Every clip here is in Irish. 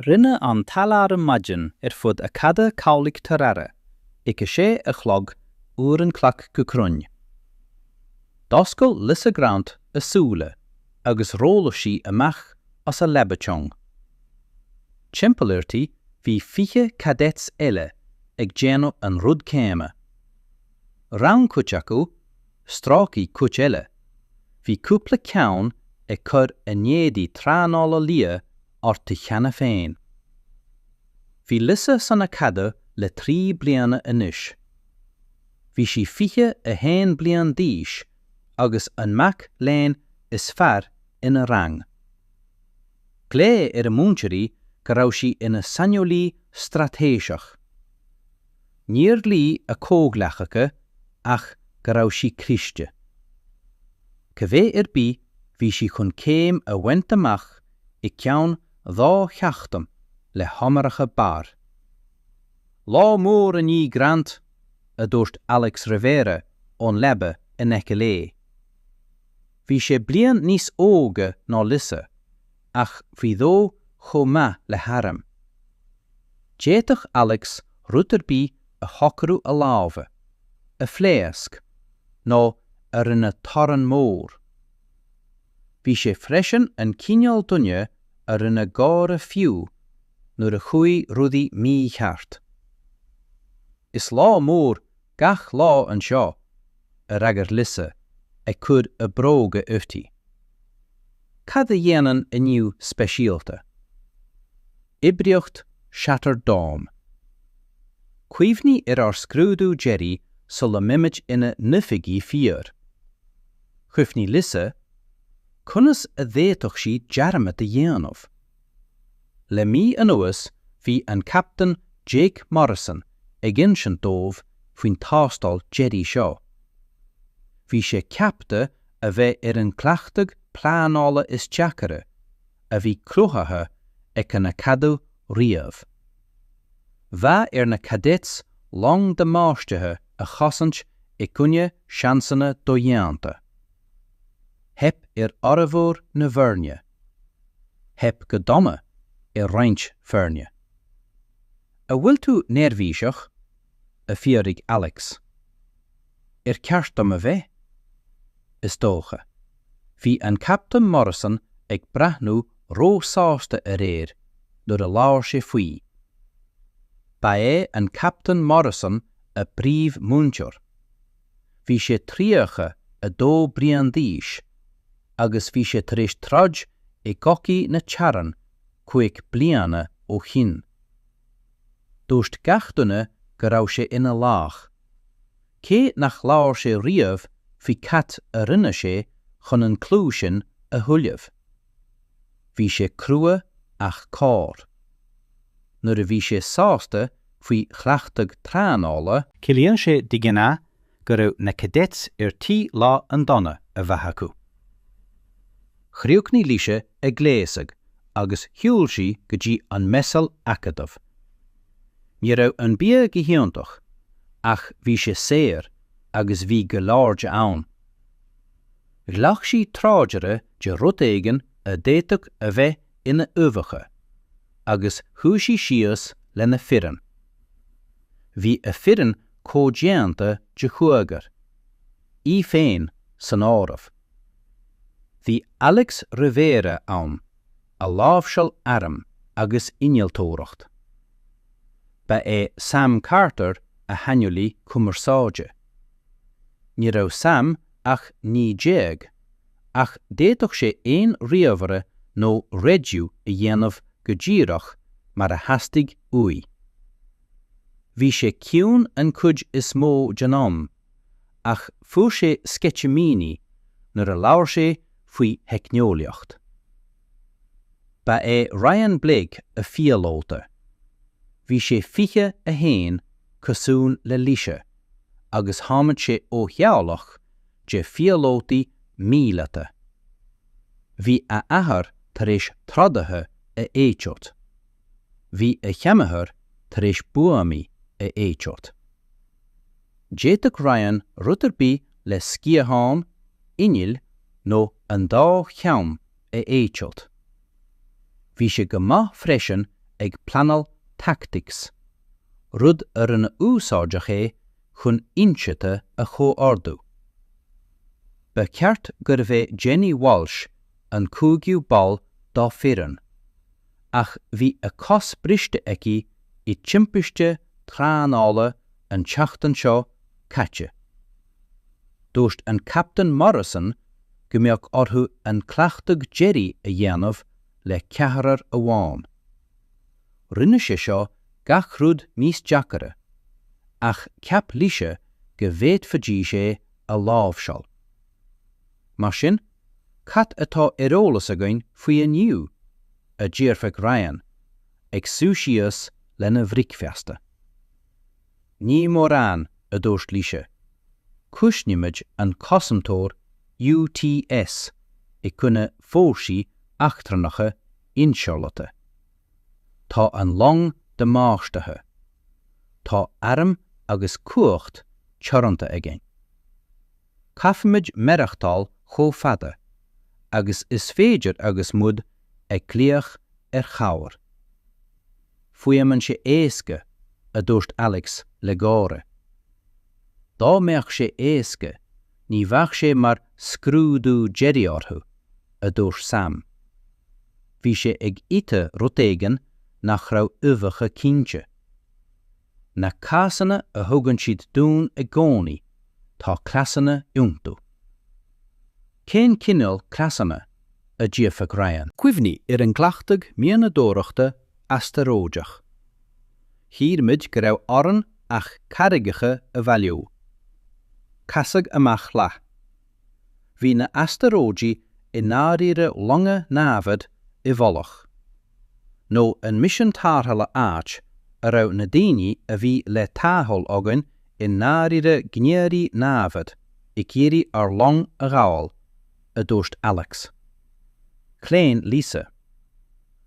Rinne an t-aláram maidin ar fud Acadamh Cabhlaigh Tarara ag a sé a chlog uair an chloig go cruinn. D'oscail Lisa Grant a súile agus rolláil sí amach as a leaba chúng. Timpeall uirthi bhí fiche cadets eile ag déanamh an rud céanna. Rinn cuid acu, strácaigh cuid eile, bhí cúpla ceann ag cur a n-éadaí traenála liath orthu cheana féin. Bhí Lisa san Acadamh le trí bliana anois. Bhí sí 21 bliain d'aois agus an mac léinn is fearr ina rang. Ghlaoigh a múinteoirí go raibh sí ina saineolaí straitéiseach. Níor luaigh a comhghleacaithe ach go raibh sí cliste. Cibé ar bith, bhí sí chun céim a bhaint amach i gceann dhá sheachtain le honóracha barr. Lá mór inniu, Grant, a dúirt Alex Rivera ón leaba in aice léi. Bhí sé bliain níos óige ná Lisa ach bhí dhó chomh maith le hairm. D'fhéadfadh Alex rud ar bith a shocrú a lámhach, a phléasc, nó a rinne torann mór. Bhí sé freisin an cineál duine a rinne gáire fiú nuair a chuaigh rudaí mícheart. Is lá mór gach lá anseo, a fhreagair Lisa, ag cur a bróga uirthi. Cad a dhéanann inniu speisialta? Oibríocht Shattered Dawn. Cuimhnigh ar ár scrúdú deiridh sula mbeimid ina n-oifigigh fíor. Chuimhnigh Lisa. Conas a d'fhéadfadh sí dearmad a dhéanamh? Le mí anuas bhí an Captaen Jake Morrison ag insint dóibh faoin tástáil deiridh seo. Bhí sé ceaptha a bheith ar an gcleachtadh pleanála is deacaire a bhí cruthaithe ag an Acadamh riamh. Bheadh ar na cadets long damáistithe a chosaint i gcoinne seansanna dodhéanta. Theip ar fhormhór na bhfoirne. Theip go dona ar roinnt foirne. An bhfuil tú neirbhíseach? a d'fhiafraigh Alex. ar cheart dom a bheith? Is dócha. Bhí an Captain Morrison ag breathnú ró-sásta aréir nuair a labhair sé faoi. Ba é an Captain Morrison a bpríomhmhúinteoir. Bhí sé 32 bliain d'aois agus bhí sé tar éis troid i gcogaí na teorann cúig bliana ó shin. Dúirt gach duine go raibh sé ina laoch. cé nár labhair sé riamh faoi cad a rinne sé chun an clú sin a thuilleamh. Bhí sé crua ach cóir. Nuair a bhí sé sásta faoi chleachtadh treanála, Ciallaíonn sé de ghnáth go raibh na cadets ar tí lá an-dona a bheith acu. Chríochnaigh Laoise ag gléasadh agus shiúil sí go dtí an Messal Acadamh. Ní raibh an bia go hiontach, ach bhí sé saor agus bhí go leor de ann. Ghlac sí tráidire de rud éigin a d'fhéadfadh a bheith ina uibheacha, agus shuigh sí síos lena foireann. Bhí a foireann comhdhéanta de chúigear, í féin san áireamh. Bhí Alex Rivera ann. a láimhseáil airm agus innealtóireacht. Ba é Sam Carter a shaineolaí cumarsáide. Ní raibh Sam ach naoi déag, ach d'fhéadfadh sé aon ríomhaire nó raidió a dhéanamh go díreach mar a theastaigh uaidh. Bhí sé ciúin an chuid is mó den am ach fuair sé sceitimíní nuair a labhair sé faoi theicneolaíocht. Ba é Ryan Blake a phíolóta. Bhí sé 21 cosúil le Laoise agus tháinig sé ó theaghlach de phíolótaí míleata. Bhí a athair tar éis trodaithe a eitilt. Bhí a sheanathair tar éis buamaí a eitilt. D'fhéadfadh Ryan rud ar bith le sciatháin, innill nó an dá cheann a eitilt. Bhí sé go maith freisin ag pleanáil tactics, rud a rinne úsáideach é chun ionsaithe a chomhordú. Ba cheart gurbh é Jenny Walsh an cúigiú ball dá foireann, ach bhí a cos briste aici i dtimpiste traenála an tseachtain seo caite. Dúirt an captaen Morrison go mbeadh orthu an cleachtadh deiridh a dhéanamh le ceathrar amháin. Rinne sé seo gach rud níos deacaire, ach cheap Lisa go bhféadfaidís é a láimhseáil. Mar sin, cad atá ar eolas againn faoi inniu? a d'fhiafraigh Ryan, ag suí síos lena bhricfeasta. Ní mórán, a dúirt Lisa. Cosnaímid an cosantóir UTS i gcoinne fórsaí eachtrannacha ionsaitheacha. Tá an long damáistithe. Tá airm agus cumhacht teoranta againn. caithfimid maireachtáil chomh fada agus is féidir agus muid ag glaoch ar chabhair. Fuaimeann sé éasca, a dúirt Alex le gáire. Dá mbeadh sé éasca, ní bheadh sé mar scrúdú deiridh orthu, a dúirt Sam. Bhí sé ag ithe rud éigin nach raibh uibheacha cinnte. Na cásanna a thugann siad dúinn i gcónaí, tá cleasanna iontu. Cén cineál cleasanna? a d'fhiafraigh Ryan. Cuimhnigh ar an gcleachtadh mianadóireachta astaróideach. Shíl muid go raibh orainn ach carraigeacha a bhailiú. Casadh amach leath. Bhí na astaróidigh i ndáiríre longa námhad i bhfolach? Nó an misean tárrthála áit a raibh na daoine a bhí le tarrtháil againn i ndáiríre gníomhairí námhad ag iarraidh ár long a ghabháil? a dúirt Alex. Chlaon Lisa.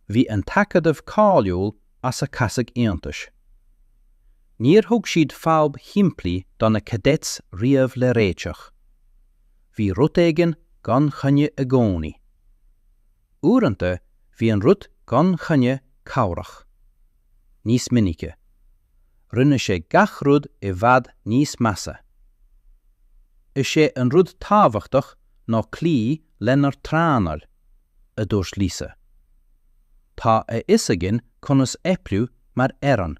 Bhí an tAcadamh cáiliúil as a casadh iontais. Níor thug siad fadhb shimplí do na Cadets riamh le réiteach. Bhí rud éigin gan choinne i gcónaí. Uaireanta bhí an rud gan choinne cabhrach. Níos minice, rinne sé gach rud i bhfad níos measa. Is é an rud tábhachtach ná cloí lenár dtraenáil. a dúirt Lisa. Tá a fhios againn conas oibriú mar fhoireann.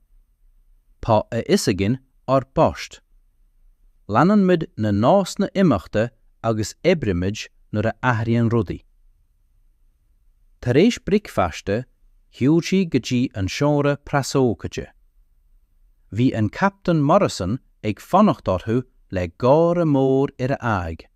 Tá a fhios againn ár bpoist. Leanann muid na nósanna imeachta agus oiriúnaímid nuair a athraíonn rudaí. Tar éis bricfeasta, shiúil siad go dtí an seomra preasócáide. Bhí an Captaen Morrison ag fanacht orthu le gáire mór ar a aghaidh.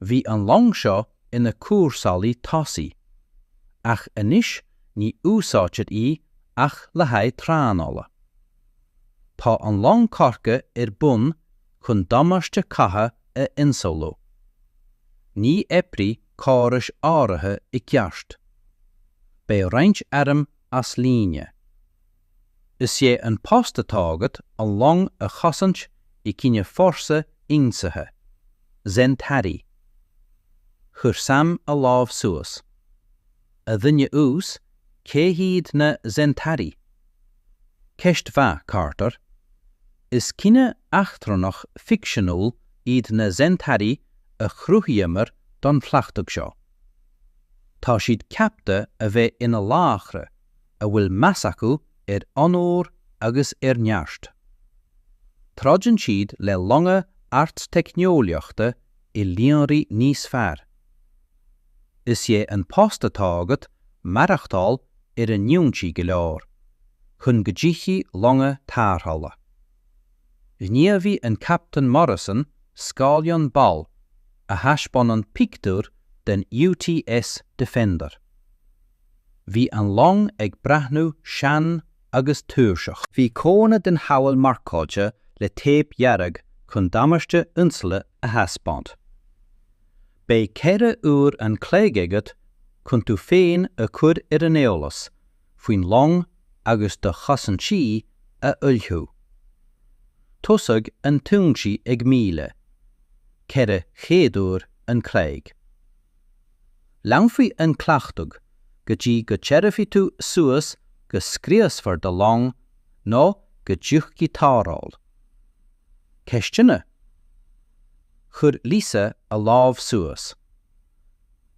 Bhí an long seo ina cúrsálaí tosaigh, ach anois ní úsáidtear í ach le haghaidh traenála. Tá an long curtha ar bun chun damáiste catha a insamhlú. Ní oibreoidh córais áirithe i gceart. Beidh roinnt airm as líne. Is é an post atá agat an long a chosaint i gcoinne fórsa ionsaithe Zentari. Chuir Sam a lámh suas. A dhuine uasail, cé hiad na Zen Tari? Ceist mhaith, Carter. Is cine eachtrannach ficseanúil iad na Zentari a chruthaíomar don chleachtadh seo. Tá siad ceaptha a bheith ina laochra, a bhfuil meas acu ar onóir agus ar neart. Troideann siad le longa ardteicneolaíochta i líonraí níos fearr. Is é an post atá agat maireachtáil ar a n-ionsaí go leor chun go dtiocfaidh longa tarrthála. Ghníomhaigh an Captaen Morrison scáileán balla a thaispeánann pictiúr den UTS Defender. Bhí an long ag breathnú sean agus tuirseach. Bhí codanna den chabhail marcáilte le téip dhearg chun damáiste insamhlaithe a thaispeáint. Beidh ceithre uair an chloig agat chun tú féin a chur ar an eolas faoin long agus do chosaintí a ullmhú. Tosóidh an t-ionsaí ag 1400 uair an chloig. Leanfaidh an cleachtadh go dtí go dtabharfaidh tú suas go scriosfar do long nó go dtiocfaidh tarrtháil. Ceisteanna? Chuir Lisa a lámh suas.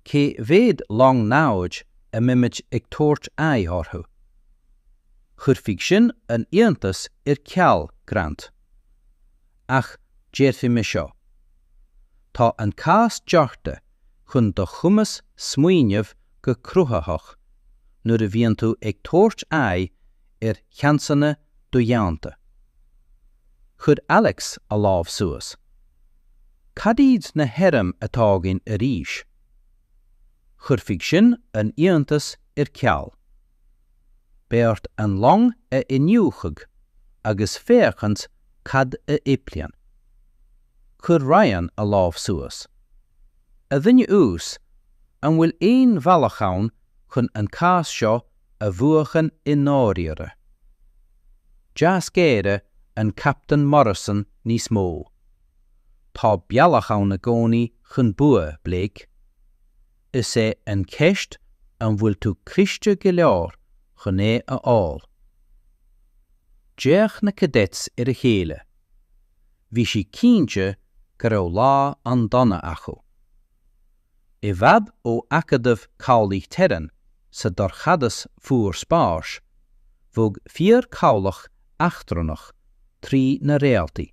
Cé mhéad long namhaid a mbeimid ag tabhairt aghaidh orthu? Chuirfeadh sin an iontas ar ceal, Grant. Ach déarfaidh mé seo. Tá an cás deartha chun do chumas smaoineamh go cruthaitheach nuair a bhíonn tú ag tabhairt aghaidh ar sheansanna dodhéanta. Chuir Alex a lámh suas. Cad iad na hairm atá againn arís? Chuirfeadh sin an iontas ar ceal. Bheadh ort an long a iniúchadh agus féachaint cad a iomplaíonn. Chuir Ryan a lámh suas. A dhuine uasail, an bhfuil aon bhealach ann chun an cás seo a bhuachan i ndáiríre? D'éirigh an Captaen Morrison níos mó. Tá bealach ann i gcónaí chun bua, Blake. Is é an cheist an bhfuil tú cliste go leor chun é a fháil. D'fhéach na cadets ar a chéile. Bhí sé cinnte go raibh lá an-dona acu. I bhfad ó Acadamh Cabhlaigh Terran, sa dorchadas fuar spáis, bhog fíorchabhlach eachtrannach trí na réaltaí.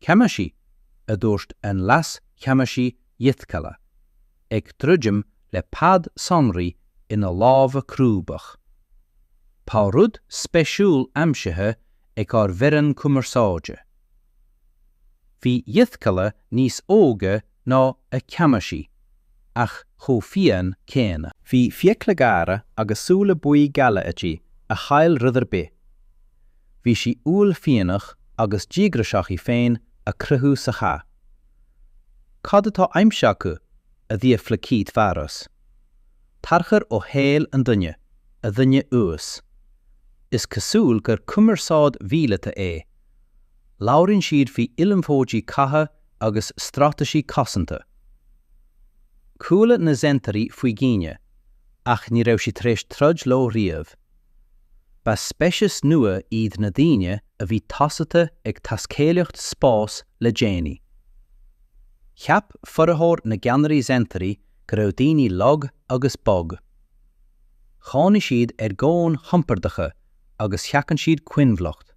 A Cheannasaí, a dúirt an Leas-Cheannasaí Jytkala, ag druidim le pad sonraí ina lámha crúbacha. Tá rud spéisiúil aimsithe ag ár bhfoireann cumarsáide. Bhí Jytkala níos óige ná a ceannasaí, ach chomh fiáin céanna. Bhí fiacla géara agus súile buí geala aici a chaill rud ar bith. Bhí sí uaillmhianach agus díograiseach í féin a chruthú sa chath. Cad atá aimsithe acu? a d'fhiafraigh Keith Mhearas. Tarchur ó shaol an duine, a dhuine uasail. Is cosúil gur cumarsáid mhíleata é. Labhraíonn siad faoi ullmhóidí catha agus straitéisí cosanta. Chuala na Zentairí faoi dhaoine, ach ní raibh siad tar éis troid leo riamh. Ba speiceas nua iad na daoine a bhí tosaithe ag taiscéalaíocht spáis le déanaí. Cheap formhór na gceannairí Zentairí go raibh daoine lag agus bog. Chónaigh siad ar dhomhain chompordacha agus sheachain siad coinbhleacht.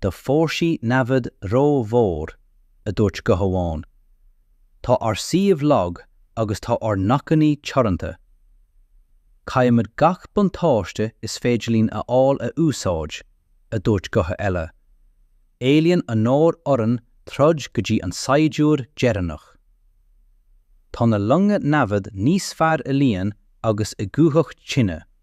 do fhórsaí namhad ró-mhór, a dúirt guth amháin. Tá ár suíomh lag agus tá ár n-acmhainní teoranta. Caithfimid gach buntáiste is féidir linn a fháil a úsáid, a dúirt guth eile. Éilíonn onóir orainn troid go dtí an saighdiúir deireanach. Tá na longa namhad níos fearr i líon agus i gcumhacht tine.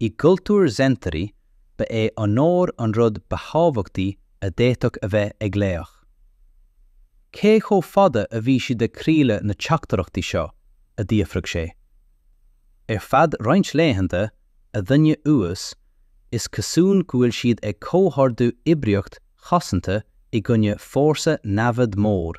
I gcultúr Zentairí, ba é onóir an rud ba thábhachtaí a d'fhéadfadh a bheith ag laoch. Cé chomh fada a bhí siad ag craoladh na teachtaireachtaí seo? a d'fhiafraigh sé. Ar feadh roinnt laethanta, a dhuine uasail, is cosúil go bhfuil siad ag comhordú oibríocht chosanta i gcoinne fórsa namhad mór.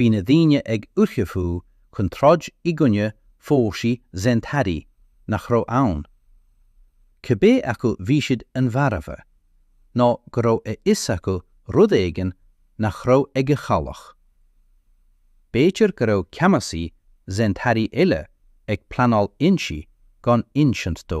Bhí na daoine ag ullmhú chun troid i gcoinne fórsaí Zentari, nach raibh ann, cibé acu bhí siad an mharbha, nó go raibh a fhios acu rud éigin nach raibh ag a chabhlach. B'fhéidir go raibh ceannasaí Zentari eile ag pleanáil ionsaí gan insint dó.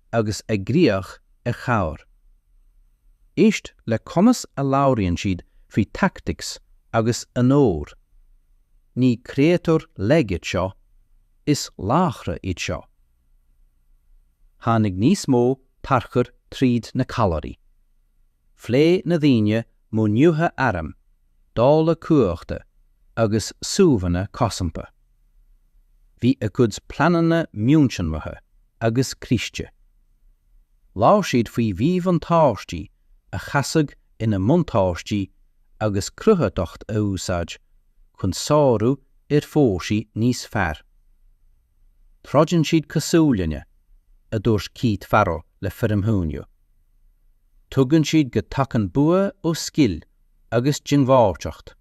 agus ag glaoch ar chabhair. Éist le conas a labhraíonn siad faoi tactics agus onóir. Ní créatúir lag iad seo, is laochra iad seo. Tháinig níos mó tarchuir tríd na callairí. Phléigh na daoine modhnuithe airm dáileadh cumhachta agus suíomhanna cosanta. Bhí a gcuid pleananna mionsonraithe agus cliste. Labhair siad faoi mhíbhuntáistí a chasadh ina mbuntáistí agus cruthaitheacht a úsáid chun sárú ar fhórsaí níos fearr. Troideann siad cosúil linne, a dúirt Keith Farrell le formhuiniú. Tuigeann siad go dtagann bua ó scil agus diongbháilteacht.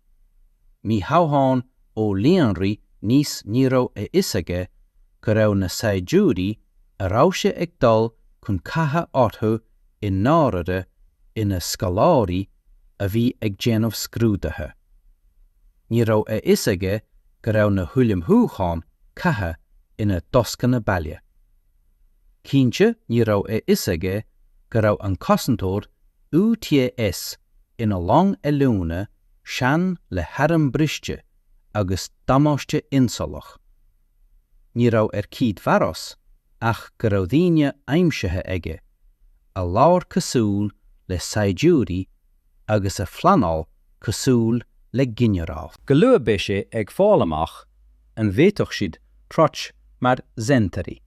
Ní hamháin ó líonraí níos ní raibh a fhios aige go raibh na saighdiúirí a raibh sé ag dul chun catha orthu i ndáirire ina scoláirí a bhí ag déanamh scrúdaithe. Ní raibh a fhios aige go raibh na hullmhúcháin catha ina dtascanna baile. Cinnte ní raibh a fhios aige go raibh an cosantóir UTS ina long oiliúna sean le hairm briste agus damáiste ionsamhlach. Ní raibh ar Keith Pharos ach go raibh daoine aimsithe aige a labhair cosúil le saighdiúirí agus a phleanáil cosúil le ginearáil. Go luath beidh sé ag fáil amach an bhféadfadh siad troid mar Zentari.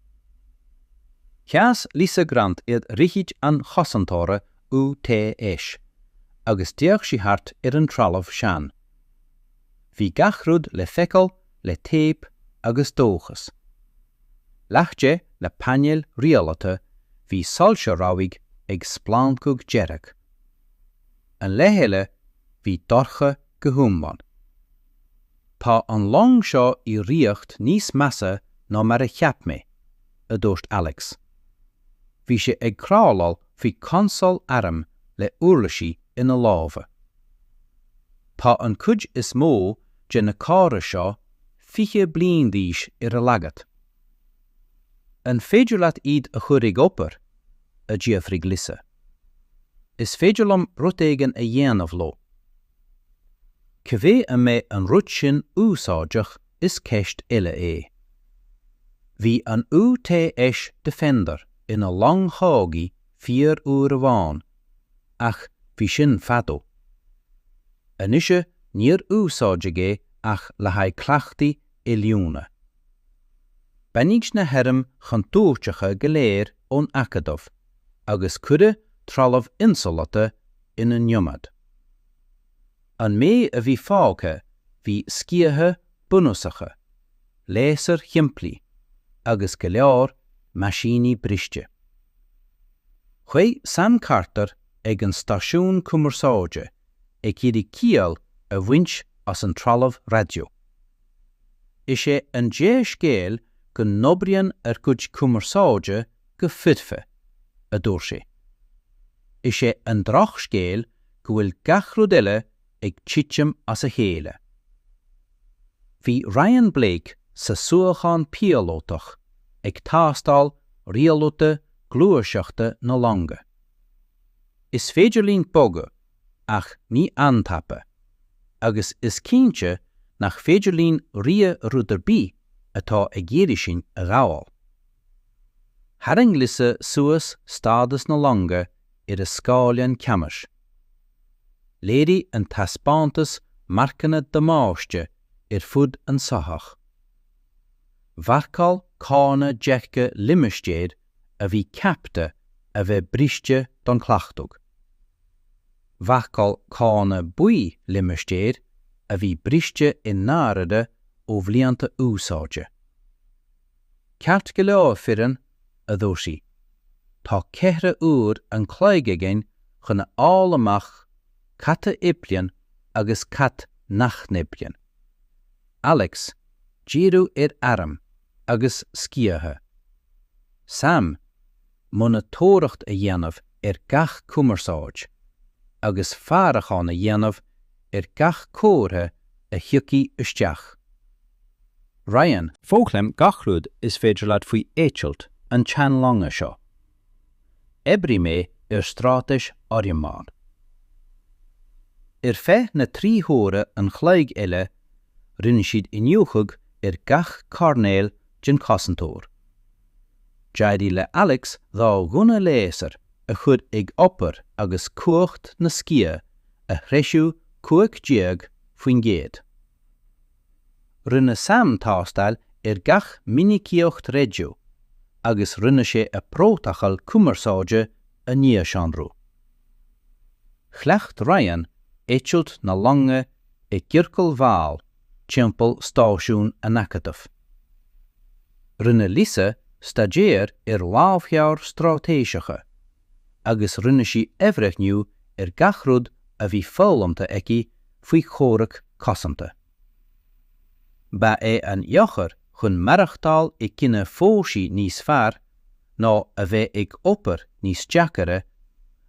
Sheas Lisa Grant ar dhroichid an chosantóra UTS agus d'fhéach sí thart ar an trealamh sean. Bhí gach rud le feiceáil le téip agus dóchas. Leath de na painéil rialaithe bhí soilse rabhaidh ag splancadh dearg. An leath eile bhí dorcha go hiomlán. Tá an long seo i riocht níos measa ná mar a cheap mé, a dúirt Alex. Bhí sé ag crawláil faoi chonsól airm le uirlisí ina lámha. Tá an chuid is mó de na córais seo 20 bliain d'aois ar a laghad. An féidir leat iad a chur ag obair? a d'fhiafraigh Lisa. Is féidir liom rud éigin a dhéanamh leo. Cibé an mbeidh an rud sin úsáideach is ceist eile é. Bhí an UTS Defender ina long chogaidh fíor uair amháin, ach bhí sin fadó. Anois níor úsáideadh é ach le haghaidh cleachtaí oiliúna. Baineadh na hairm chontúirteacha go léir ón Acadamh agus cuireadh trealamh insamhalta ina n-ionad. An méid a bhí fágtha bhí sciatha bunúsacha, léasair shimplí agus go leor meaisíní briste. Shuigh Sam Carter ag an stáisiún cumarsáide ag iarraidh ciall a bhaint as an trealamh raidió. Is é an dea-scéal go n-oibríonn ár gcuid cumarsáide go foirfe, a dúirt sé. Is é an drochscéal go bhfuil gach rud eile ag titim as a chéile. Bhí Ryan Blake sa suíochán píolótach ag tástáil rialuithe gluaiseachta na longa. Is féidir linn bogadh, ach ní an-tapa, agus is cinnte nach féidir linn rith ó rud ar bith atá ag iarraidh sinn a ghabháil. Tharraing Lisa suas stádas na longa ar a scáileán ceannais. Léirigh an taispeántas marcanna damáiste ar fud an soitheach. Mharcáil zóin dearga limistéir a bhí ceapta a bheith briste don chleachtadh. Mharcáil zóin buí limistéir a bhí briste i ndáirire ó bhlianta úsáide. Ceart go leor foireann, a dúirt sí, tá ceithre uair an chloig againn chun a fháil amach cad a oibríonn agus cad nach n-oibríonn. Alex, díriú ar airm, agus sciatha. Sam, monatóireacht a dhéanamh ar gach cumarsáid, agus faireachán a dhéanamh ar gach comhartha a thiocfaidh isteach. Ryan. Foghlaim gach rud is féidir leat faoi eitilt an tseanlonga seo. Oibreoidh mé ar straitéis fhoriomlán. Ar feadh na trí huaire an chloig eile, rinne siad iniúchadh ar gach coirnéal den chosantóir. D'éirigh le Alex dhá ghunna léasair a chur ag obair agus cumhacht na sciath a threisiú 15%. Rinne sam tástáil ar gach minicíocht raidió agus rinne sé a prótacal cumarsáide a nuashonrú. Chleacht Ryan eitilt na loinge i gciorcail mhall timpeall Stáisiún an Acadaimh. Rinne Lisa staidéar ar lámhleabhair straitéiseacha agus rinne sí athbhreithniú ar gach rud a bhí foghlamtha aici faoi chomhrac cosanta. Ba é an eochair chun maireachtáil i gcine foghshaí níos fearr ná a bheith ag obair níos deacaire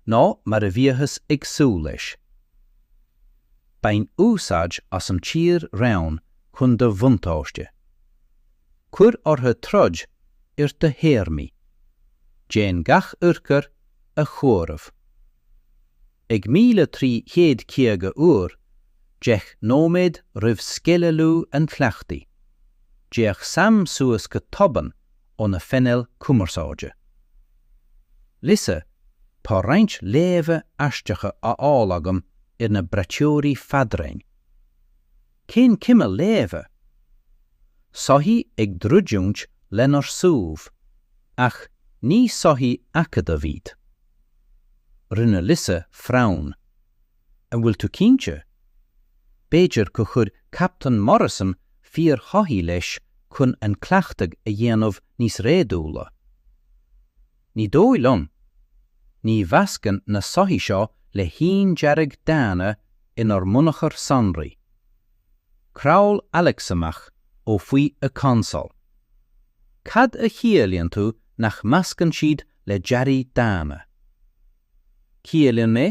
ná mar a bhíothas ag súil leis. Bain úsáid as an tír-raon chun do bhuntáiste. Cuir orthu troid ar do théarmaí. Déan gach urchar a chomhaireamh. Ag míle trí chéad caoga uair, deich nóiméad roimh sceidealú an chleachtaidh, d'fhéach Sam suas go tobann óna phainéal cumarsáide. Lisa, tá roinnt léamha aisteacha á fháil agam ar na braiteoirí fadraoin. Cén cineal léamha? Soithí ag druidiúint lenár suíomh, ach ní soithí acadaimh iad. Rinne Lisa frown. An bhfuil tú cinnte? B'fhéidir gur chuir Captain Morrison fíor-shoithí leis chun an cleachtadh a dhéanamh níos réadúla. Ní dóigh liom. Ní mheaitseálann na soithí seo le haon dearadh daonna inár mbunachar sonraí. Crawl Alex amach ó faoi a consól. Cad a chiallaíonn tú nach meaitseálann siad le dearaí daonna? Ciallaíonn mé,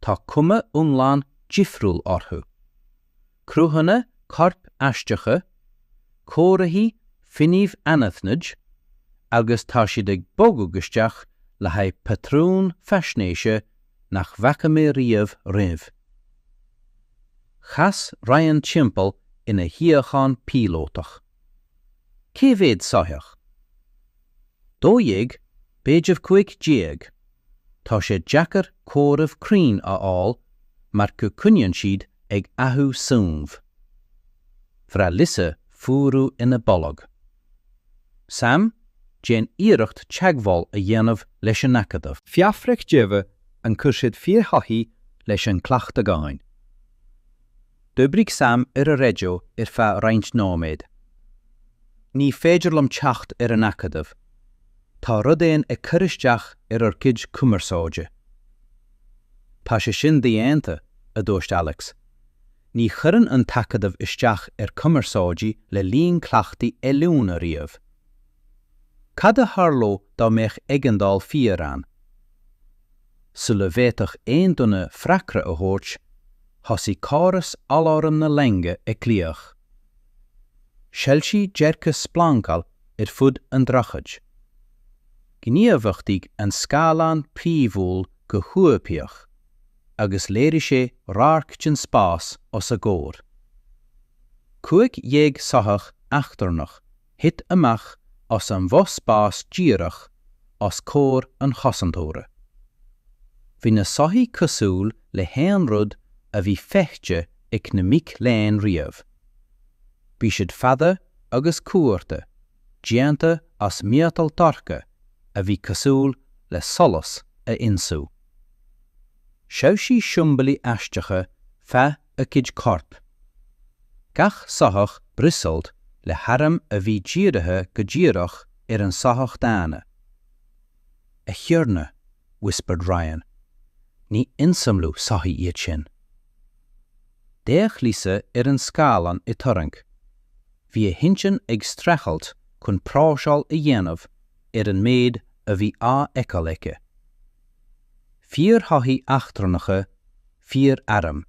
tá cuma iomlán difriúil orthu. cruthanna coirp aisteacha, comharthaí fuinnimh anaithnid, agus tá siad ag bogadh isteach le haghaidh patrún faisnéise nach bhfaca mé riamh roimhe. Chas Ryan timpeall ina shuíochán píolótach. Cé mhéad soitheach? Dó dhéag, b'fhéidir cúig déag. Tá sé deacair comhaireamh cruinn a fháil mar go gcoinníonn siad ag athrú suímh. Bhraith Lisa fuarú ina bolg. Sam, déan iarracht teagmháil a dhéanamh leis an Acadamh. Fiafraigh díobh ar chuir siad fíor-shoithí leis an cleachtadh againn. D'oibrigh Sam ar an raidió ar feadh roinnt nóiméad. Ní féidir liom teacht ar an Acadamh. Tá rud éigin ag cur isteach ar ár gcuid cumarsáide. Tá sé sin dodhéanta, a dúirt Alex. Ní chuireann an tAcadamh isteach ar chumarsáidí le linn cleachtaí oiliúna riamh. Cad a tharlódh dá mbeadh éigeandáil fíor ann? Sula bhféadfadh aon duine freagra a thabhairt, thosaigh córas aláraim na loinge ag glaoch. Shoilsigh deirge splancail ar fud an droichid. Ghníomhachtaigh an scáileán príomhúil go huathoibríoch agus léirigh sé radharc den spás os a gcomhair. Cúig dhéag soitheach eachtrannach Thit amach as an bhfospás díreach os comhair an chosantóra. Bhí na soithí cosúil le haon rud a bhí feicthe ag na mic léinn riamh. Bhí siad fada agus cuarta, déanta as miotal dorcha a bhí cosúil le solas a ionsú. Shoilsigh siombailí aisteacha feadh a gcuid corp. Gach soitheach briosáilte le hairm a bhí dírithe go díreach ar an soitheach daonna. A Thiarna, whispered Ryan, ní insamhlú soithí iad sin. D'fhéach Lisa ar an scáileán i turraing. Bhí a hintinn ag streachailt chun próiseáil a dhéanamh ar an méid a bhí á fheiceáil aici. Fíor-shoithí eachtrannacha fíor-airm.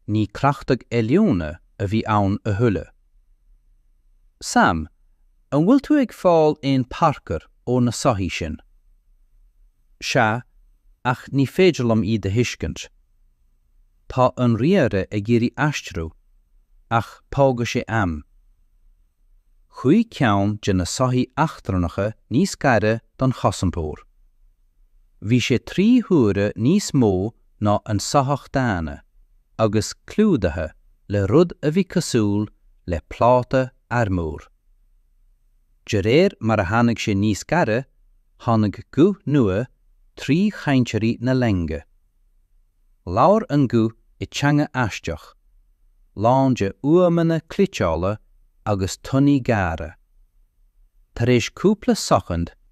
Ní cleachtadh oiliúna a bhí ann a thuilleadh. Sam, an bhfuil tú ag fáil aon Parker ó na soithí sin? Sea, ach ní féidir liom iad a thuiscint. Tá an ríomhaire ag iarraidh aistriú, ach tógfaidh sé am. Chuaigh ceann de na soithí eachtrannacha níos gaire don chosantóir. Bhí sé trí huaire níos mó ná an soitheach daonna, agus clúdaithe le rud a bhí cosúil le pláta armúir. De réir mar a tháinig sé níos gaire, tháinig guth nua trí chainteoirí na loinge. Labhair an guth i teanga aisteach, lán de fhuaimeanna cliteála agus toin ghéara. Tar éis cúpla soicind,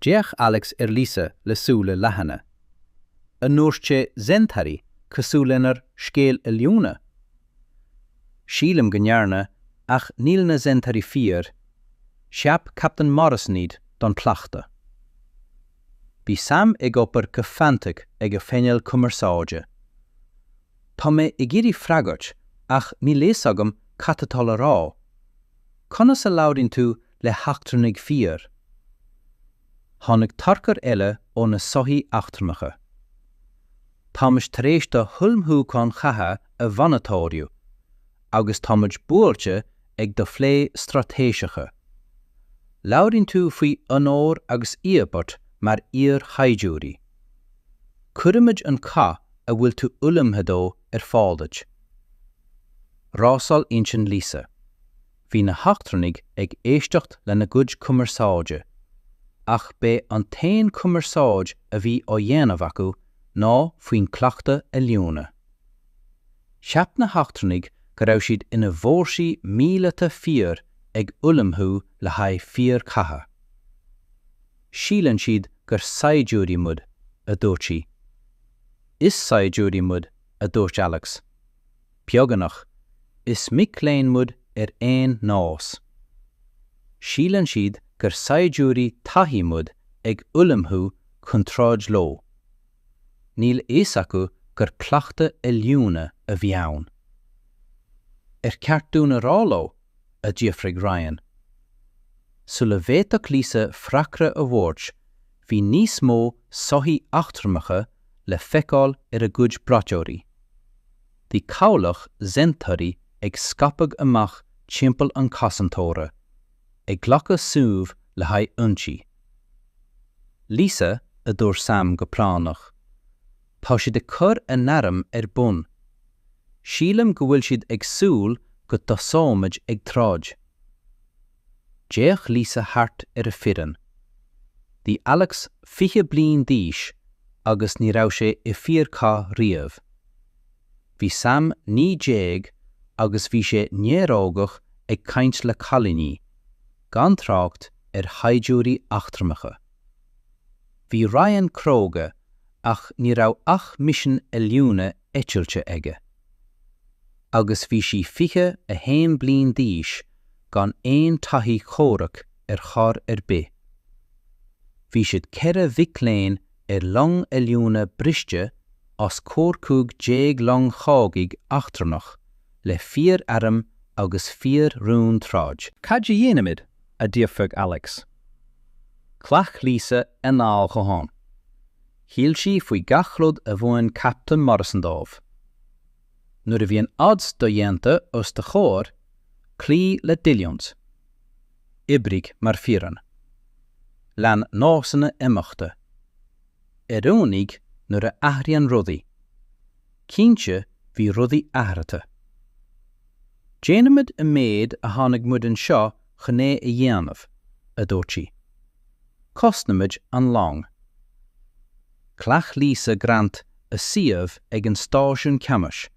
D'fhéach Alex ar Lisa le súile leathana. An ndúirt sé Zentari cosúil lenár scéal oiliúna? Sílim go ndearna, ach níl na Zentari fíor, cheap Captain Morrison iad don chleachtadh. Bhí Sam ag obair go fraochta ag a phainéal cumarsáide. Tá mé ag iarraidh freagairt ach níl a fhios agam cad atá le rá. Conas a labhraíonn tú le heachtrannaigh fíor. Tháinig tarchur eile ó na soithí eachtrannacha. Táimid tar éis do ullmhúcháin chatha a mhonatóiriú agus táimid buailte ag do phlé straitéiseacha. Labhraíonn tú faoi onóir agus íobairt mar iar-shaighdiúirí. Cuirfimid an cath a bhfuil tú ullmhaithe dó ar fáil duit. Rásáil intinn Lisa. Bhí na heachtrannaigh ag éisteacht lena gcuid cumarsáide, ach b'é an t-aon chumarsáid a bhí á dhéanamh acu ná faoin gcleachtadh oiliúna. Cheap na heachtrannaigh go raibh siad ina bhfórsaí míleata fíor ag ullmhú le haghaidh fíorchatha. Síleann siad gur saighdiúirí muid, a dúirt sí. Is saighdiúirí muid, a dúirt Alex. Beagnach, is mic léinn muid ar aon nós. Síleann siad gur saighdiúirí taithí muid ag ullmhú chun troid leo. Níl a fhios acu gur cleachtadh oiliúna a bhí ann. Ar cheart dúinn a rá leo? a d'fhiafraigh Ryan. Sula bhféadfadh Lisa freagra a thabhairt bhí níos mó soithí eachtrannacha le feiceáil ar a gcuid braiteoirí. Bhí cabhlach Zentari ag scaipeadh amach timpeall an chosantóra, ag glacadh suímh le haghaidh ionsaí. Lisa, a dúirt Sam go práinneach. Tá siad ag cur a n-airm ar bun. Sílim go bhfuil siad ag súil go dtosóimid ag troid. D'fhéach Lisa thart ar a foireann. Bhí Alex fiche bliain d'aois agus ní raibh sé i fíorchath riamh. Bhí Sam naoi déag agus bhí sé néarógach ag caint le cailíní, gan trácht ar shaighdiúirí eachtrannacha. Bhí Ryan cróga ach ní raibh ach misin oiliúna eitilte aige. agus bhí sí 21 bliain d'aois gan aon taithí chomhraic ar chor ar bith. Bhí siad ceithre mhic léinn ar long oiliúna briste os comhair 15 long chogaidh eachtrannach le fíorairm agus fíor-rún troid. 'Cad a dhéanaimid? a d'fhiafraigh Alex. Ghlac Lisa anáil dhomhain. Shíl sí faoi gach rud a mhúin Captain Morrison dóibh. Nuair a bhíonn odds do-dhéanta os do chomhair, cloígh le d'oiliúint. Oibrigh mar foireann. Lean nósanna imeachta. Oiriúnaigh nuair a athraíonn rudaí. Cinnte, bhí rudaí athraithe. Déanaimid an méid a tháinig muid anseo chun é a dhéanamh, a dúirt sí. Cosnaimid an long. Ghlac Lisa Grant a suíomh ag an stáisiún ceannais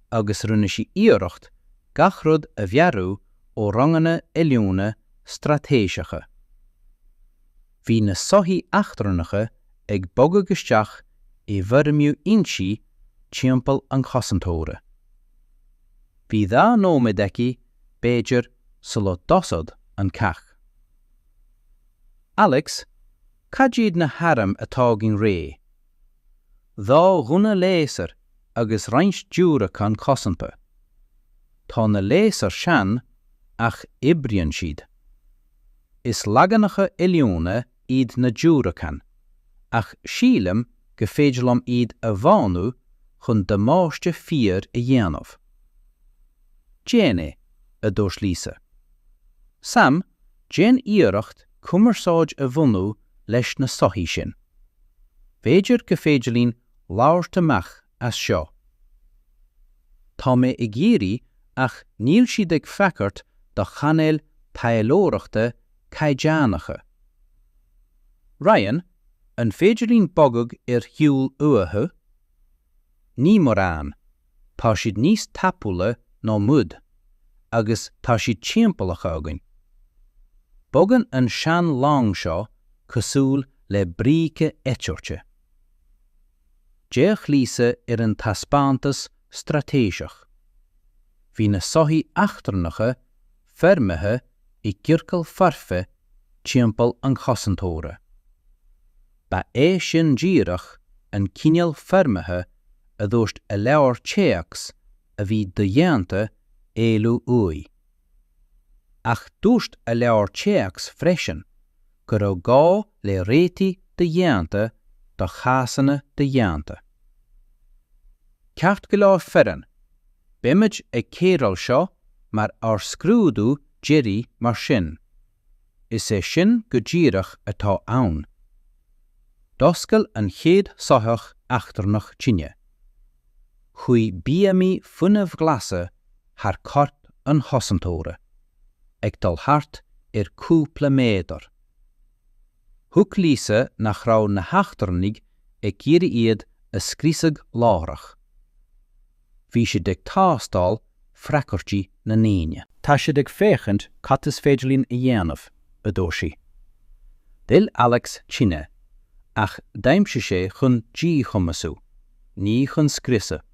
agus rinne sí iarracht gach rud a mheabhrú ó ranganna oiliúna straitéiseacha. Bhí na soithí eachtrannacha ag bogadh isteach i bhfoirmiú ionsaí timpeall an chosantóra. Bhí dhá nóiméad aici, b'fhéidir, sula dtosódh an cath. Alex, Cad iad na hairm atá againn réidh? Dhá ghunna léasair agus roinnt diúracán cosanta. Tá na léasair sean ach oibríonn siad. Is leaganacha oiliúna iad na diúracáin ach sílim go féidir liom iad a mhodhnú chun damáiste fíor a dhéanamh. Déan é, a dúirt Lisa. Sam, déan iarracht cumarsáid a bhunú leis na soithí sin. B'fhéidir go féidir linn labhairt amach as seo. Tá mé ag iarraidh ach níl siad ag freagairt do chainéil taidhleoireachta caighdeánacha. Ryan, an féidir linn bogadh ar shiúl uathu? Ní mórán. tá siad níos tapúla ná muid, agus tá siad timpeallaithe againn. Bogann an sean-long seo cosúil le bríce eitilte. D'fhéach Lisa ar an taispeántas straitéiseach. Bhí na soithí eachtrannacha foirmithe i gciorcal foirfe timpeall an chosantóra. Ba é sin díreach an cineál foirmithe a dúirt a leabhar téacs a bhí dodhéanta éalú uaidh. Ach dúirt a leabhar téacs freisin go raibh gá le réitigh dodhéanta do chásanna dodhéanta. Ceart go leor foireann! Beimid ag cóireáil seo mar ár scrúdú deiridh mar sin. Is é sin go díreach atá ann. D'oscail an chéad soitheach eachtrannach tine. Chuaigh bíomaí fuinnimh ghlasa thar corp an chosantóra, ag dul thart ar chúpla méadar. Thuig Lisa nach raibh na heachtrannaigh ag iarraidh iad a scriosadh láithreach. Bhí siad ag tástáil freagairtí na ndaoine. Tá siad ag féachaint cad is féidir linn a dhéanamh, a dúirt sí. D'fhill Alex tine ach d'aimsigh sé chun díchumasú, ní chun scriosadh.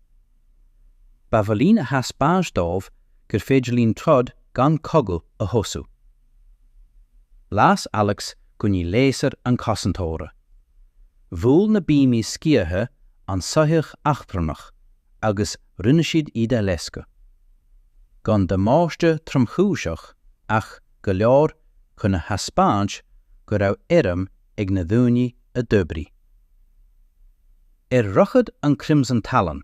Ba mhaith linn a thaispeáint dóibh gur féidir linn troid gan cogadh a thosú. Las Alex gunnaí léasair an chosantóra. Bhuail na bíomaí sciatha an soitheach eachtrannach agus rinne siad iad a loisceadh. Gan damáiste tromchúiseach ach go leor chun a thaispeáint go raibh airm ag na daoine a d'oibrigh. Ar dhroichead an Crimson Talon.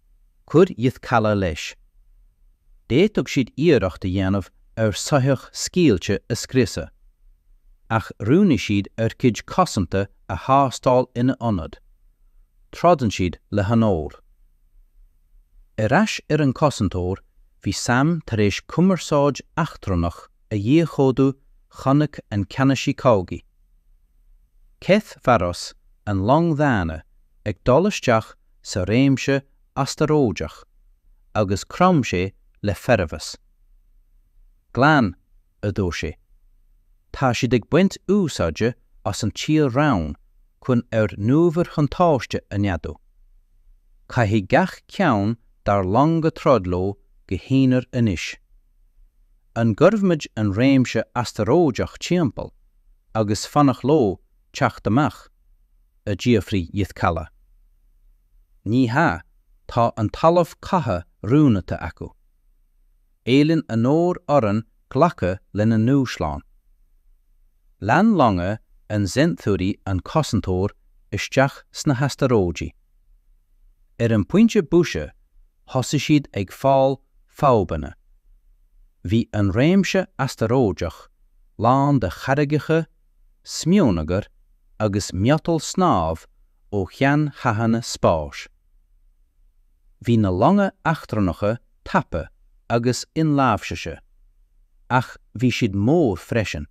chuir Yth Kala leis. D'fhéadfadh siad iarracht a dhéanamh ar shoitheach scaoilte a scriosadh, ach roghnaigh siad ár gcuid cosanta a thástáil ina ionad. Troideann siad le honóir. Ar ais ar an gCosantóir, bhí Sam tar éis cumarsáid eachtrannach a dhíchódú chonaic an Ceannasaí Cogaidh, Keth Varos, an long dhaonna ag dul isteach sa réimse astaróideach agus chrom sé le formheas. Glan, a dúirt sé. Tá siad ag baint úsáide as an tír-raon chun ár n-uimhirbhuntáiste a neadú. Caithfidh gach ceann dár longa troid leo go haonair anois. An gcuirfimid an réimse astaróideach timpeall agus fanacht leo teacht amach? a d'fhiafraigh Yithkala. Ní hea, tá an talamh catha roghnaithe acu. Éilíonn onóir orainn glacadh lena ndúshlán. Lean longa an Zenturi an Cosantóir isteach sna hastaróidigh. Ar an bpointe boise, thosaigh siad ag fáil fadhbanna. Bhí an réimse astaróideach lán de charraigeacha smionagar agus miotal snámh ó sheanchathanna spáis. Bhí na longa eachtrannacha tapa agus inláimhsithe, ach bhí siad mór freisin.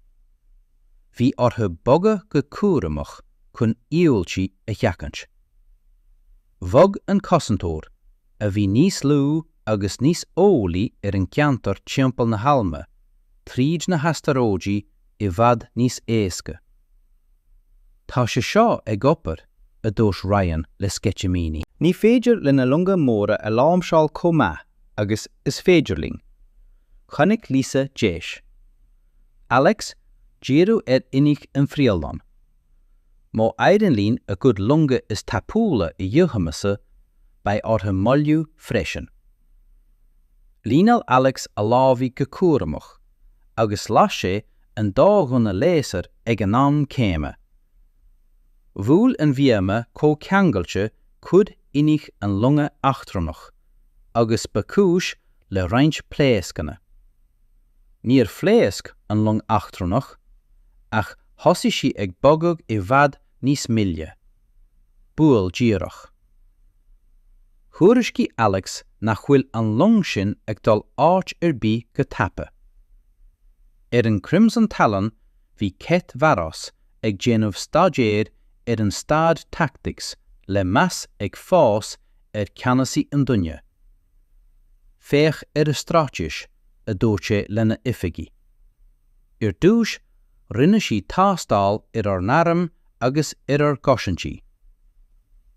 Bhí orthu bogadh go cúramach chun imbhuailtí a sheachaint. Bhog an Cosantóir, a bhí níos lú agus níos eolaí ar an gceantar timpeall na hAilme, tríd na hastaróidí i bhfad níos éasca. Tá sé seo ag obair, a dúirt Ryan le sceitimíní. Ní féidir lena longa móra a láimhseáil chomh maith agus is féidir linn. Chonaic Lisa deis. Alex díriú ar innill an phríomhlong. Má éiríonn linn a gcuid longa is tapúla a dhíchumasú, beidh orthu moilliú freisin. Líneáil Alex a lámhaigh go cúramach, agus las sé an dá ghunna léasair ag an am céanna. Bhuail an bhíoma comhcheangailte cuid innill an longa eachtrannach, agus ba chúis le roinnt pléascanna. Níor phléasc an long eachtrannach, ach thosaigh sí ag bogadh i bhfad níos moille. Buail díreach. Thuairiscigh Alex nach bhfuil an long sin ag dul áit ar bith go tapa. Ar an Crimson Talon bhí Keth Varos ag déanamh staidéir ar an staid tactics le meas ag fás ar Ceannasaí an Duine, Féach ar a straitéis, a dúirt sé lena oifigigh. Ar dtús, rinne siad tástáil ar ár n-airm agus ar ár gcosaintí.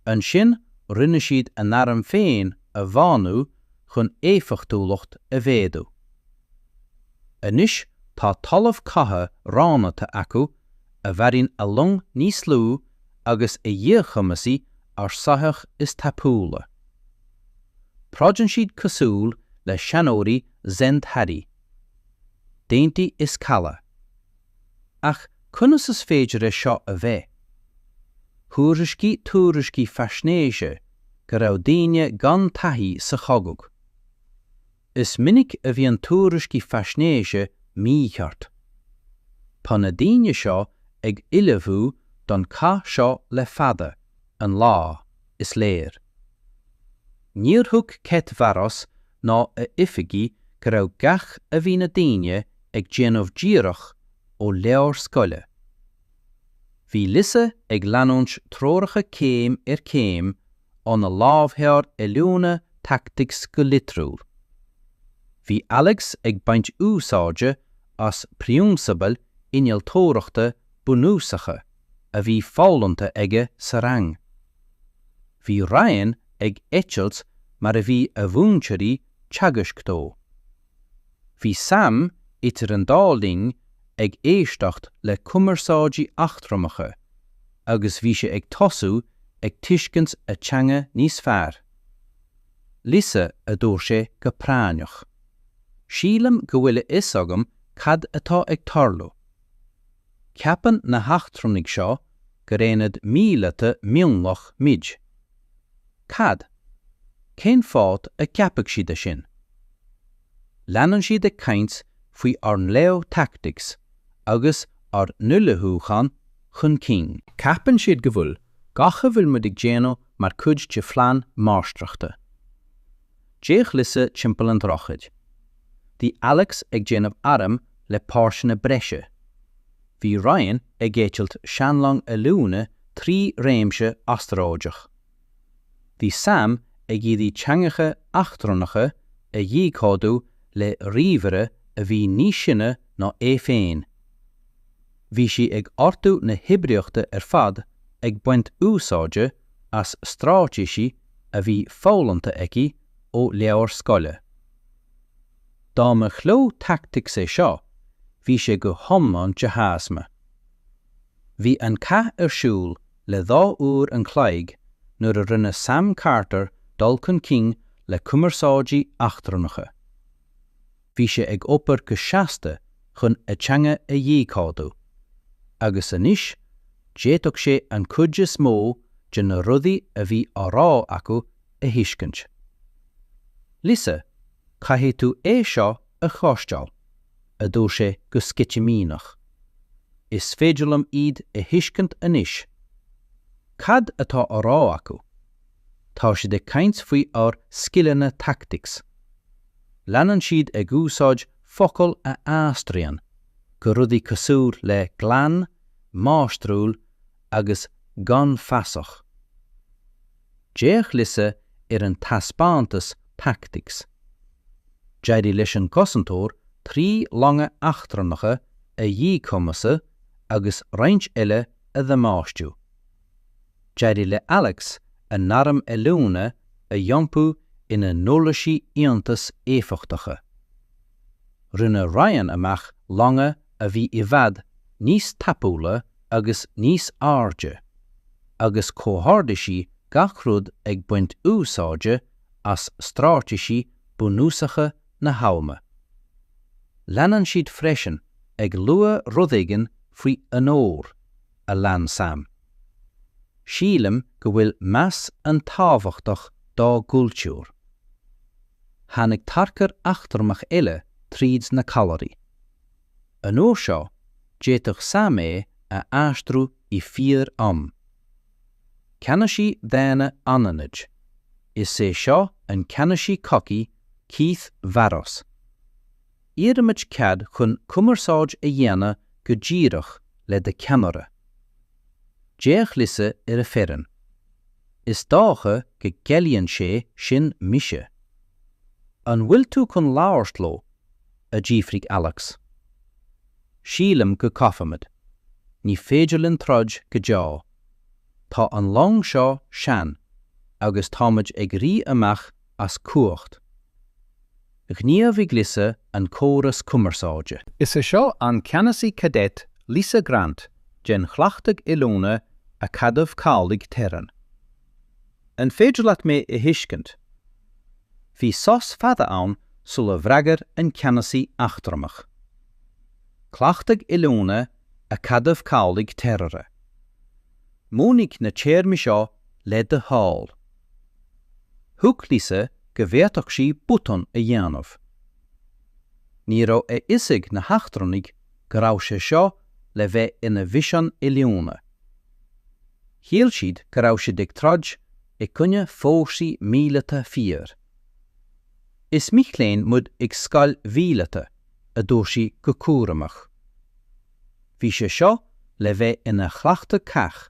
Ansin rinne siad a n-airm féin a mhodhnú chun éifeachtúlacht a mhéadú. Anois tá talamh catha roghnaithe acu a bhfabhraíonn a long níos lú agus a dhíchumasaigh ár soitheach is tapúla. Troideann siad cosúil le seanóirí Zenthari. Déan tí is caladh. Ach conas is féidir é seo a bheith? Thuairiscigh tuairiscí faisnéise go raibh daoine gan taithí sa chogadh. Is minic a bhíonn tuairiscí faisnéise mícheart. Tá na daoine seo ag ullmhú don chath seo le fada an lá. is léir. Níor thug Keth Varos ná a oifigigh go raibh gach a bhí na daoine ag déanamh díreach ó leabhar scoile. Bhí Lisa ag leanúint treoracha céim ar chéim óna lámhleabhar oiliúna tactics go litriúil. Bhí Alex ag baint úsáide as prionsabail innealtóireachta bunúsacha. a bhí foghlamtha aige sa rang. Bhí Ryan ag eitilt mar a bhí a mhúinteoirí ag teagasc dó. Bhí Sam idir an dá linn ag éisteacht le cumarsáidí eachtrannacha agus bhí sé ag tosú ag tuiscint a teanga níos fearr. Lisa, a dúirt sé go práinneach. Sílim go bhfuil a fhios agam cad atá ag tarlú. Ceapann na heachtrannaigh seo gur aonad míleata mionlaigh muid. Cad, cén fáth a gceapfadh siad é sin? Leanann siad ag caint faoi ár ngleo tactics agus ár n-ullmhúchán chun cinn. Ceapann siad go bhfuil gach a bhfuil muid ag déanamh mar chuid de phlean máistreachta. D'fhéach Lisa timpeall an droichid. Bhí Alex ag déanamh airm le páirteanna breise. Bhí Ryan ag eitilt seanlong oiliúna trí réimse astaróideach. Bhí Sam ag iarraidh teangacha eachtrannacha a dhíchódú le ríomhaire a bhí níos sine ná é féin. Bhí sí ag ordú na hoibríochta ar fad ag baint úsáide as stráitéisí a bhí foghlamtha aici ó leabhair scoile. Dá mba ghleo tactics é seo, bhí sé go hiomlán de thaisme. Bhí an cath ar siúl le dhá uair an chloig nuair a rinne Sam Carter dul chun cinn le cumarsáidí eachtrannacha. bhí sé ag obair go seasta chun a dteanga a dhíchódú, agus anois, d'fhéadfadh sé an chuid is mó de na rudaí a bhí á rá acu a thuiscint. Lisa, caithfidh tú é seo a chloisteáil, a dúirt sé go sceitimíneach. Is féidir liom iad a thuiscint anois. Cad atá á rá acu? tá siad ag caint faoi ár scileanna tactics. Leanann siad ag úsáid focail a aistríonn go rudaí cosúil le glan, máistriúil agus gan fasach. D'fhéach Lisa ar an taispeántas tactics. D'éirigh leis an gcosantóir trí longa eachtrannacha a dhíchumasú agus roinnt eile a dhamáistiú. D'éirigh le Alex a n-airm oiliúna a iompú ina n-uirlisí iontach éifeachtacha. Rinne Ryan amach longa a bhí i bhfad níos tapúla agus níos airde, agus chomhordaigh sí gach rud ag baint úsáide as stráitéisí bunúsacha na habhama. Leanann siad freisin ag lua rud éigin faoi onóir. a lean Sam. Sílim go bhfuil meas an-tábhachtach dá gcultúr. Tháinig tarchur eachtrannach eile tríd na callairí. An uair seo, d'fhéadfadh Sam é a aistriú i fíor am. Ceannasaí daonna anaithnid, is é seo an ceannasaí cogaidh Keith Varros. Iarraimid cead chun cumarsáid a dhéanamh go díreach le do cheannaire. D'fhéach Lisa ar a foireann. Is dócha go gciallaíonn sé sin mise. An bhfuil tú chun labhairt leo? a d'fhiafraigh Alex. Sílim go gcaithfimid. Ní féidir linn troid go deo. Tá an long seo sean agus táimid ag rith amach as cumhacht. Ghníomhaigh Lisa an córas cumarsáide. Is í seo an Ceannasaí Cadet Lisa Grant den Chleachtadh Oiliúna Acadamh Cabhlaigh Terran. An féidir leat mé a thuiscint? Bhí sos fada ann sula bhfreagair an Ceannasaí eachtrannach. Cleachtadh Oiliúna Acadamh Cabhlaigh Terran. Mínigh na téarmaí seo le do thoil. Thuig Lisa go bhféadfadh sí botún a dhéanamh. Ní raibh a fhios ag na heachtrannaigh go raibh sé seo le bheith ina mhisean oiliúna. Shíl siad go raibh siad ag troid i gcoinne fórsaí míleata fíor. Is mic léinn muid ag scoil mhíleata, a dúirt sí go cúramach. Bhí sé seo le bheith ina chleachtadh cath,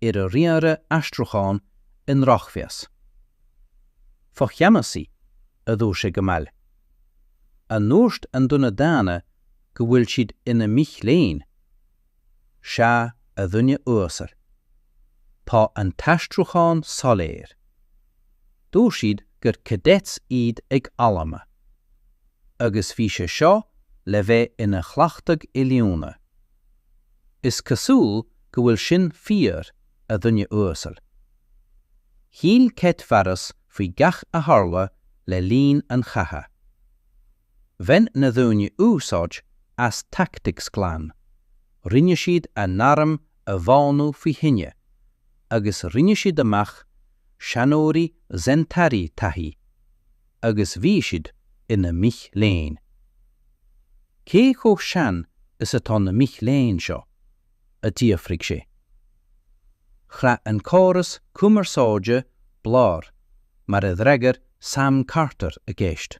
ar a riaradh aistriúcháin i ndrochmheas. Focheannasaí, a dúirt sé go mall. An ndúirt an duine daonna go bhfuil siad ina mic léinn? Sea, a dhuine uasail. Tá an t-aistriúchán soiléir. Dúirt siad gur cadets iad ag Alma. Agus bhí sé seo le bheith ina chleachtadh oiliúna. Is cosúil go bhfuil sin fíor, a dhuine uasail. Shíl Cet Mharas faoi gach a tharla le linn an chatha. Bhain na daoine úsáid as tactics glan, rinne siad a n-airm a mhodhnú faoi thine, agus rinne siad amach seanóirí Zentari taithí. agus bhí siad ina mic léinn. Cé chomh sean is atá na mic léinn seo? a d'fhiafraigh sé. Chraith an córas cumarsáide blár mar a d'fhreagair Sam Carter a gceist.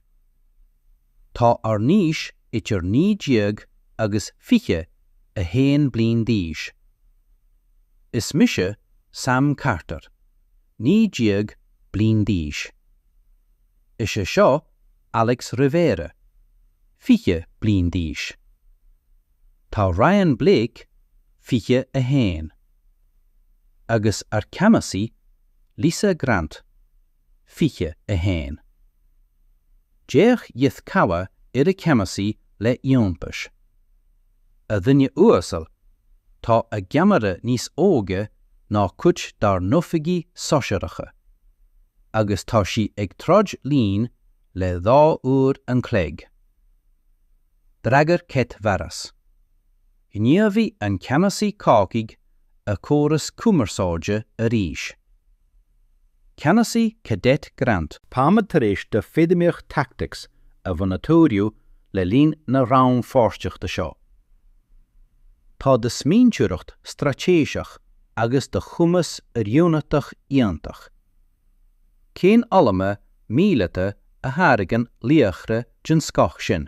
Tá ár n-aois idir naoi déag agus fiche a haon bliain d'aois. Is mise Sam Carter, naoi déag bliain d'aois. Is é seo Alex Rivera, 20 bliain d'aois. Tá Ryan Blake, 21, agus ár gceannasaí Lisa Grant, 21. D'fhéach Ythkava ar a cheannasaí le iontas. a dhuine uasail, tá a gceannaire níos óige ná cuid dár n-oifigí sóisearacha, agus tá sí ag troid linn le dhá uair an chloig. D'fhreagair Cet Mharas, ghníomhaigh an Ceannasaí Cácigh a chóras cumarsáide arís. Ceannasaí Cadet Grant. Táimid tar éis do feidhmíocht tactics a mhonatóiriú le linn na rannpháirtíochta seo. Tá do smaointeoireacht straitéiseach agus do chumas oiriúnaitheach iontach. Cén Alma míleata a tháirgeann laochra den scoth sin?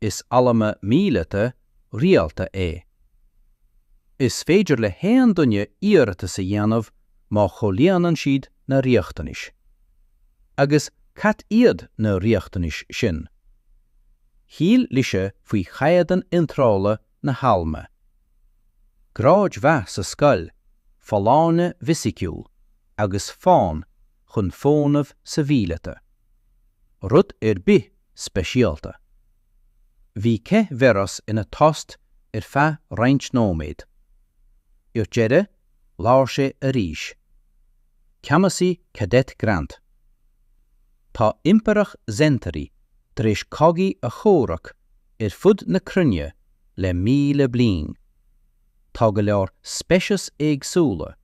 Is alma míleata rialta é. Is féidir le haon duine iarratas a dhéanamh má chomhlíonann siad na riachtanais. Agus cad iad na riachtanais sin? Shíl Lisa faoi chaighdeán iontrála na halma. Gráid mhaith sa scoil, folláine fisiciúil agus fonn chun fónamh sa mhíleata, rud ar bith speisialta. Bhí Keth Veras ina tost ar feadh roinnt nóiméad. Ar deireadh, labhair sé arís. Ceannasaí Cadet Grant. Tá Impireacht Zentari tar éis cogaí a chomhrac ar fud na cruinne le míle bliain. Tá go leor speiceas éagsúla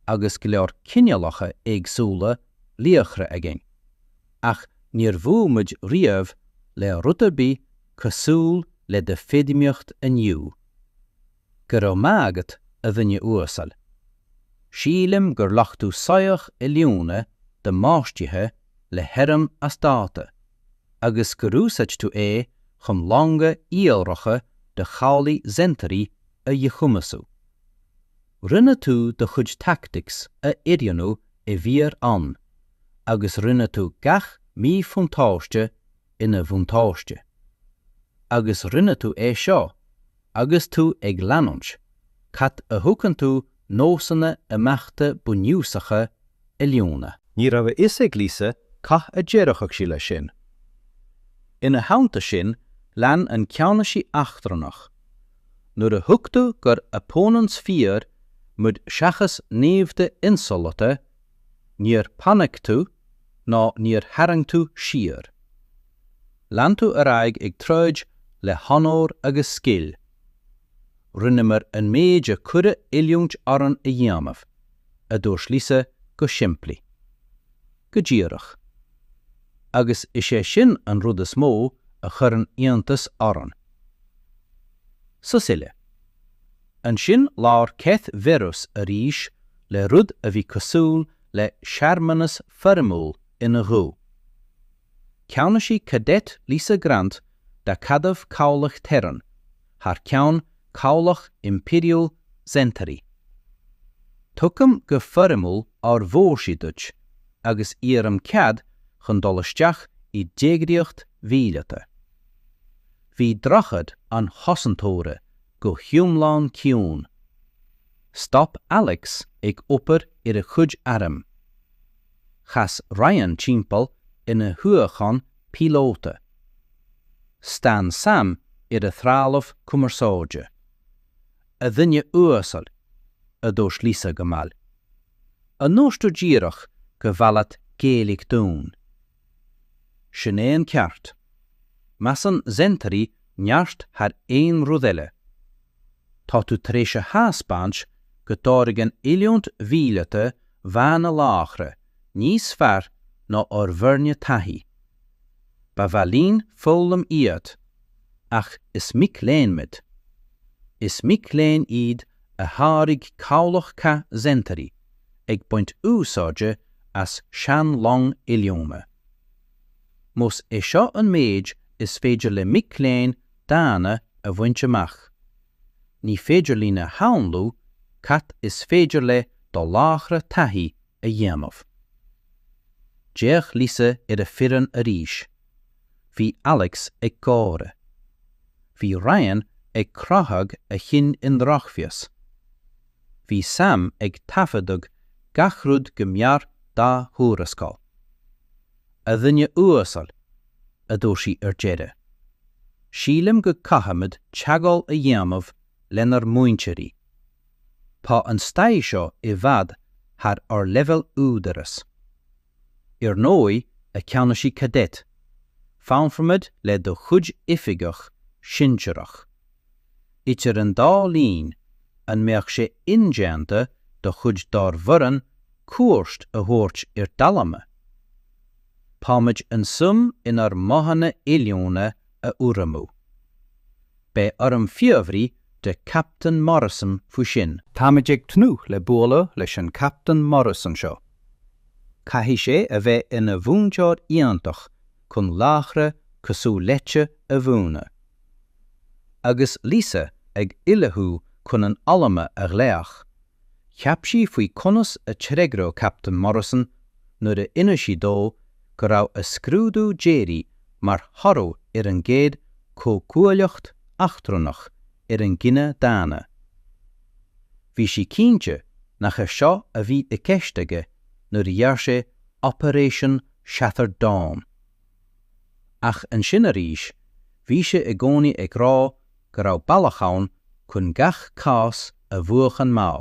agus go leor cineálacha éagsúla laochra againn, ach níor bhuail muid riamh le rud ar bith cosúil le do feidhmíocht inniu. Go raibh maith agat, a dhuine uasail. Sílim gur ghlac tú soitheach oiliúna damáistithe le hairm as dáta, agus gur úsáid tú é chun longa iolracha do chabhlaigh Zentari a dhíchumasú. Rinne tú do chuid tactics a oiriúnú i bhfíor-am agus rinne tú gach míbhuntáiste ina bhuntáiste. Agus rinne tú é seo agus tú ag leanúint cad a thugann tú nósanna imeachta bunúsacha oiliúna. Ní raibh a fhios ag Lisa cad a déarfadh sí leis sin. Ina theannta sin, lean an ceannasaí eachtrannach, nuair a thuig tú gur opponents fíor muid seachas naimhde insamhalta, níor panic tú ná níor tharraing tú siar. Lean tú ar aghaidh ag troid le honóir agus scil. Rinneamar an méid a cuireadh oiliúint orainn a dhéanamh, a dúirt Lisa go simplí. Go díreach. Agus is é sin an rud is mó a chuireann iontas orainn. Sos eile. Ansin labhair Keth Veras arís le rud a bhí cosúil le searmanas foirmiúil ina ghuth. Ceannasaí Cadet Lisa Grant d'Acadamh Cabhlach Terran, thar ceann Chabhlach Impiriúil Zentari. Tugaim go foirmiúil ár bhfórsaí duit agus iarraim cead chun dul isteach i d'eagraíocht mhíleata. Bhí Droichead an Chosantóra go hiomlán ciúin. Stop Alex ag obair ar a chuid airm. Chas Ryan timpeall ina shuíochán píolóta. Stán Sam ar a threalamh cumarsáide. 'A dhuine uasail, a dúirt Lisa go mall. 'An ndúirt tú díreach gur mhaith leat géilleadh dúinn? Sin é an ceart. Measann Zentery neart thar aon rud eile. Tá tú tar éis a thaispeáint go dtáirgeann oiliúint mhíleata dhaonna laochra níos fearr ná ár bhfoirne taithí. Ba mhaith linn foghlaim uait, ach is mic léinn muid. Is mic léinn iad a tháirg cabhlach cath Zentery ag baint úsáide as sean-long oiliúna. Más é seo an méid is féidir le mic léinn daonna a bhaint amach, ní féidir linn a shamhlú cad is féidir le do laochra taithí a dhéanamh. D'fhéach Lisa ar a foireann arís. Bhí Alex ag gáire. Bhí Ryan ag croitheadh a chinn i ndrochmheas. Bhí Sam ag taifeadadh gach rud go mear dá thuarascáil. 'A dhuine uasail, a dúirt sí ar deireadh. 'Sílim go caithfimid teagmháil a dhéanamh lenár múinteoirí. Tá an staid seo i bhfad thar ár leibhéal údaráis. Ar ndóigh, a Cheannasaí Cadet, fanfaimid le do chuid oifigeach sinsearach. Idir an dá linn, an mbeadh sé indéanta do chuid dár bhfoireann cuairt a thabhairt ar d'alma? Táimid an-suim in bhur modhanna oiliúna a urramú. Beidh orm fiafraí de Captain Morrison faoi sin. Táimid ag tnúth le bualadh leis an Captain Morrison seo. Caithfidh sé a bheith ina mhúinteoir iontach chun laochra cosúil leatsa a mhúineadh. Agus Lisa ag ullmhú chun an alma a ghlaoch Cheap sí faoi conas a d'fhreagródh Captain Morrison nuair a inis sí dó go raibh a scrúdú deiridh mar thoradh ar an gcéad chomhghuaillíocht eachtrannach ar an gcine daonna. Bhí sí cinnte nach é seo a bhí i gceist aige nuair a dhear sé Operation Shattered Dawn. Ach ansin arís, bhí sé i gcónaí ag rá go raibh bealach ann chun gach cás a bhuachan má.